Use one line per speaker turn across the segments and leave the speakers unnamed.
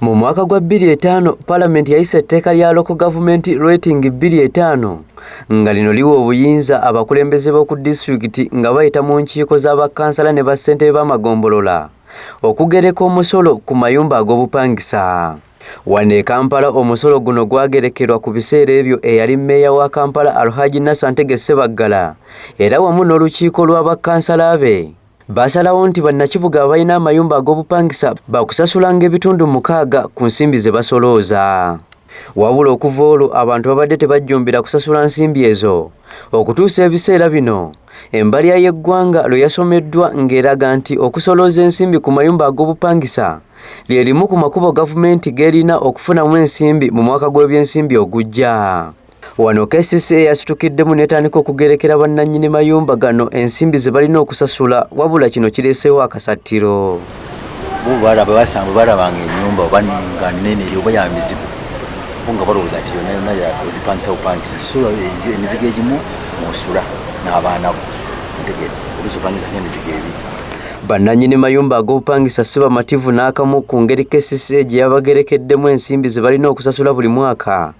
Mu mwaka gwa 25 palamenti yayisa etteeka lya loko gavumenti rating 25 nga lino liwa obuyinza abakulembeze b'oku disitulikiti nga bayita mu nkiiko za bakkansala ne bassentebe b'amagombolola okugereka omusolo ku mayumba ag'obupangisa wano e kampala omusolo guno gwagerekerwa ku biseera ebyo eyali mmeeya wa kampala alhaji nasantege sebaggala era wamu n'olukiiko lwa bakkansala be Baasalawo nti bannakibuga abalina amayumba ag'obupangisa baakusasulanga ebitundu mukaaga ku nsimbi ze basolooza. Wabula okuva olwo abantu babadde tebajjumbira kusasula nsimbi ezo okutuusa ebiseera bino embalya y'eggwanga lwe yasomeddwa ng'eraga nti okusolooza ensimbi ku mayumba ag'obupangisa lye limu ku makubo gavumenti g'erina okufunamu ensimbi mu mwaka gw'ebyensimbi ogujja. Wano KCCA yasitukiddemu netandika okugerekera bannannyini mayumba gano ensimbi ze balina okusasula wabula kino kireeseewo akasattiro. Bo
balaba basanga balabanga ennyumba oba nga nnene eri oba ya mizigo bo nga balowooza nti yonna yonna yagipangisa bupangisa sula emizigo egimu mwosula n'abaana bo ntegere oluusi opangisa ng'emizigo ebiri bannannyini
mayumba ag'obupangisa si bamativu n'akamu ku ngeri KCCA gye yabagerekeddemu ensimbi ze balina okusasula buli mwaka.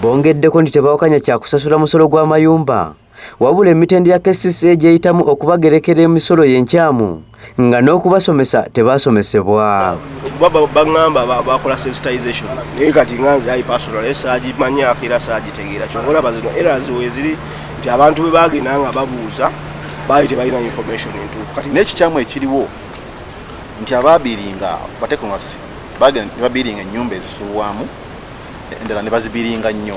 Bongeddeko
nti tebawakanya kya kusasula musolo gwa mayumba wabula emitendera ya KCCA gyeyitamu okubagerekera emisolo y'enkyamu nga n'okubasomesa tebaasomesebwa bagamba
bakola sensitization naye kati nga nze ayi personal esaagimanyako era saagitegeera kyova olaba zino eras weziri nti abantu bwe bagenda nga babuuza baali tebalina information entuufu kati n'ekikyamu ekiriwo
nti abaabiringa batekonasi bagenda babiringa ennyumba ezisulwamu endala ne bazibiringa nnyo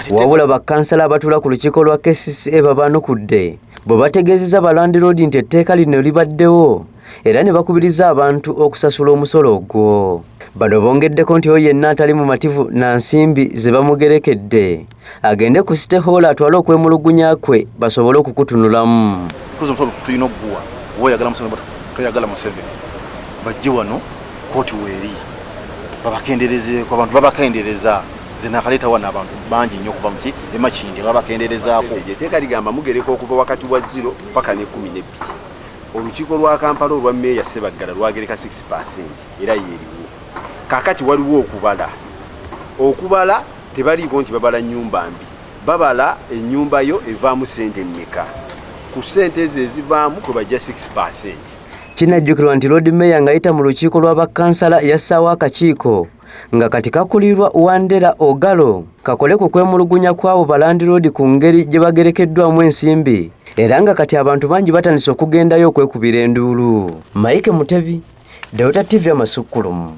wabula
bakkansala abatuula ku lukiiko lwa kcca babaanukudde bwe bategeezeza balandiroodi nti etteeka lino libaddewo era ne bakubiriza abantu okusasula omusolo ogwo bano bongeddeko nti oyo yenna atali mumativu na nsimbi ze bamugerekedde agende ku site hoola atwale okwemulugunya kwe basobole okukutunulamu kozi omusolo tulina
okuguwa oba oyagala museveni oba toyagala museveni bajje wano kooti weeri babakenderezeeko abantu babakendereza nze nakaleeta wano abantu bangi nnyo okuva muki emakindi babakenderezaako eteeka ligamba
mugereka okuva wakati wa ziro paka ne kumi nebbiri olukiiko lwa kampala olwa meeya sebaggala lwagereka 6 percent era yeeriwo kakati waliwo okubala okubala Tebaliiko nti babala nnyumba mbi, babala ennyumba yo evaamu ssente mmeka, ku ssente ezo ezivaamu kwe bajja 6 percent. Kinajjukirwa
nti Lord Mayor ng'ayita mu lukiiko lwa bakkansala yassaawo akakiiko nga kati kakulirwa Wandera Ogalo kakole ku kwemulugunya kw'abo balandiroodi ku ngeri gye bagerekeddwamu ensimbi era nga kati abantu bangi batandise okugendayo okwekubira enduulu. Mike Mutebi, Delta TV Amasukkulumu.